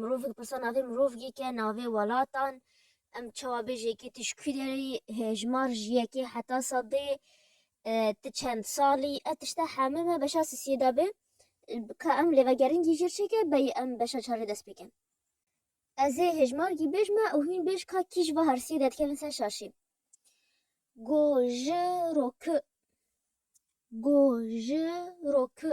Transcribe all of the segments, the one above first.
Mirovî dipirsa navê mirovî ke navê welatan em çawa bê jêkê tu ji kî derê yî hêjmar ji yekê heta sedê tu çend salî ev tişte hemû me beşa sisiyê de bê ka em lê vegerîn gî jêr çêke beyî em beşa çarê dest pê kin. Ez ê hêjmar gî bêj me û hîn bêj ka kî ji va hersiyê de dikevin ser şaşî. Go ji ro ki Go ji ro ki.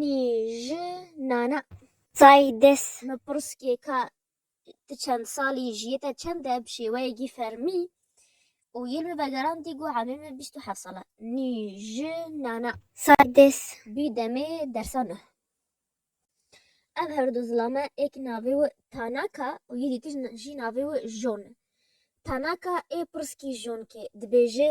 Nî ji nana. Tay des. Me pirskê ka ti çend salî ji yê te çend e bi şêweyekî fermî û yên min vegerandî got emê min bîst û heft sal e. Nî ji nana. Say des. Bî demê dersa neh. Ev her du zilame ê ki navê wi Tanaka û yê dîtiş jî navê wi Jon e. Tanaka ê pirskî Jonkê dibêje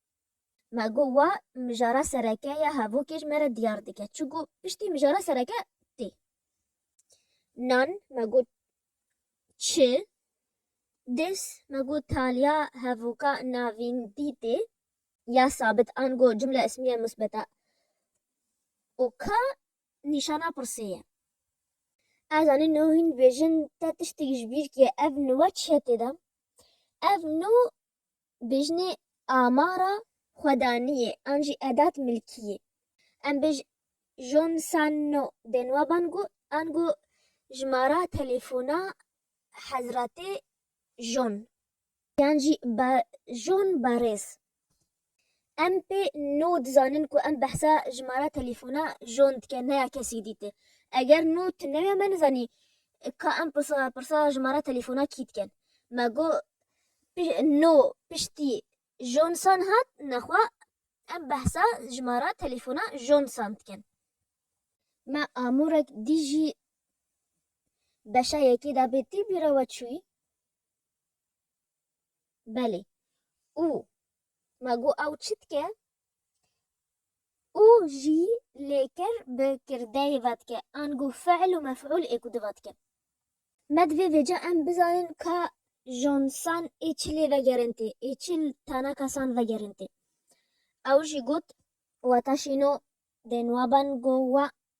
Me got wa mijara sereke ya hevokê ji me re diyar dike. Çi got piştî mijara sereke tê. Nan me got çi? Dês me got taliya hevoka navîndî tê ya sabit an got cumla ismiye musbeta û ka nîşana pirsê ye. Ez anî no hîn dibêjin te tiştek ji bîr kê ev no çi ye tê de? Ev no Bijnê amara xwedaniyê an jî edat milkiyê. Em bi John Sanno bên wa ban ku an ku jimara telefona Hezretê John. Yan jî John Barês. Em pê no dizanin ku em behsa jimara telefona John dike ne ya kesî dî ti. Eger no tu newe me nizanî ka em pirsa pirsa jimara telefona kî diken. Me go pi no piştî John san hat nexwe em behsa jimara telefona John san diken. Me amûrek dî jî beşa yekê dabê tî bîra we çûyî? Belê. Û me got ew çi dike? Û jî lê kir bi kirdeyê ve dike ango fiil û mef'ul ê ku di ve dike. Me divê vêca em bizanin ka jonsan ê çi lê vegerin tê, ê çi li tana kesan vegerin tê. Ew jî got weta şîno dê niwabango we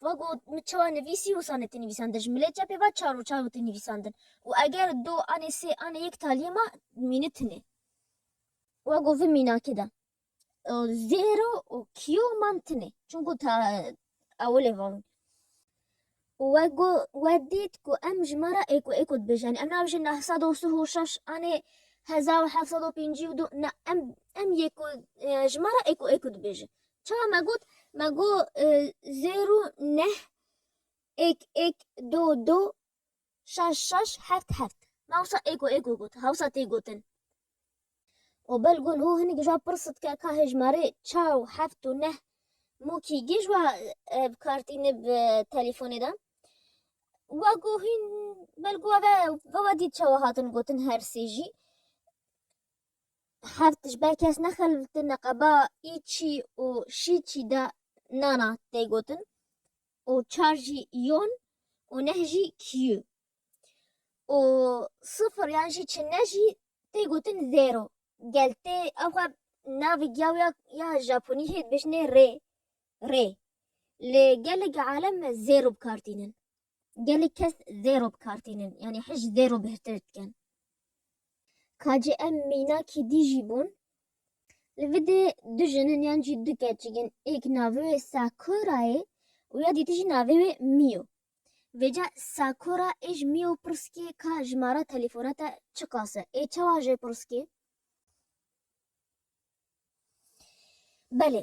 Wa got, Min çawa nivîsî wisa ne tê nivîsandin, ji milê çepê ve çar û çar wê tê nivîsandin û eger du anê sê anê yek taliyê me mîni tune. Wa got, Vê mînakê de zêro û kiyo û mam tune çunku ta ewilê va wîn. Û wa got, wa dît ku em ji me re êko êko dibêjin yanî em nabêjin neh sed û sih û şeş anê hezar û heft sed û pêncî û du ne em em yêko ji me re êko êko dibêjin. Çawa me got? Me got zêro neh êk êk do do şaş şaş heft heft. Me wisa êko êko got. Hewsa tê gotin. O bel gon o hinik ji wan pirs dike ka hejmarê çar û heft û neh mokî gê ji wan bi kar tîne bi telîfonê de. Wa got hîn bel got ve ve dît çawa hatin gotin her sê jî. Heft ji ber kes nexeltine qeba ê çî û şî çî de nana tê gotin û çar jî yon û neh jî kîyu û sifir yan jî çinne jî tê gotin zêro. Gel tê ew xwe navê giyawiya ya Japonî hê dibêjinê rê, rê. Li gelek alem zêro bi kar tînin. gelek kes zêro bi kar tînin yanî hişt zêro bihtir dikin. Ka cî em mînakî dî jî bûn Li vidê du jinin yan jî du keçik in êk navê wê Sakura yê û ya dîtî jî navê wê Mio. Vêca Sakura ê ji Mio pirskê ka jimara telefona te çi qas e? Ê çawa jê pirskê? Belê,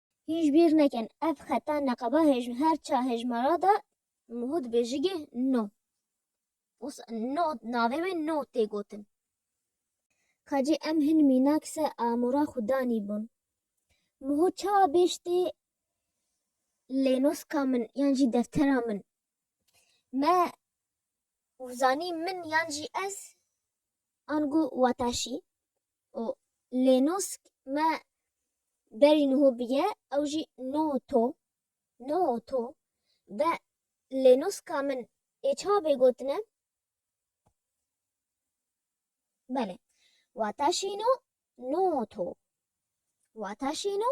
Hîn ji bîr nekin ev xeta neqeba hej her çar hejmara de nuh dibêjige no. Wisa no navê wê no tê gotin. Ka cî em hin mînak se amûra xwe danî bûn. Nuh çawa bêj tê lênoska min yan jî deftera min. Me û zanî min yan jî ez ango wataşî. û lê nûsk me berî nuhu biye ew jî no to, no to, be lê nûska min ê çawa bê gotine? Belê, wata şîno, no to, wata şîno,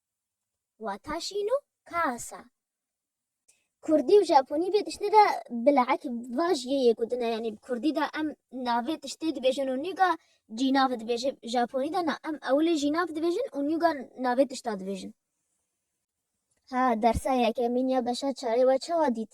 wata şîn û kas e. Kurdî û Japonî vê tiştê de bilek va jî yê yek û din e. Yanî bi Kurdî de em navê tiştê dibêjin û nîga cî navê dibêje. Bi Japonî de na. Em ewilê jî nav dibêjin û nîga navê tişta dibêjin. Ha, dersa yekemîn ya beşa çarê we çawa dît?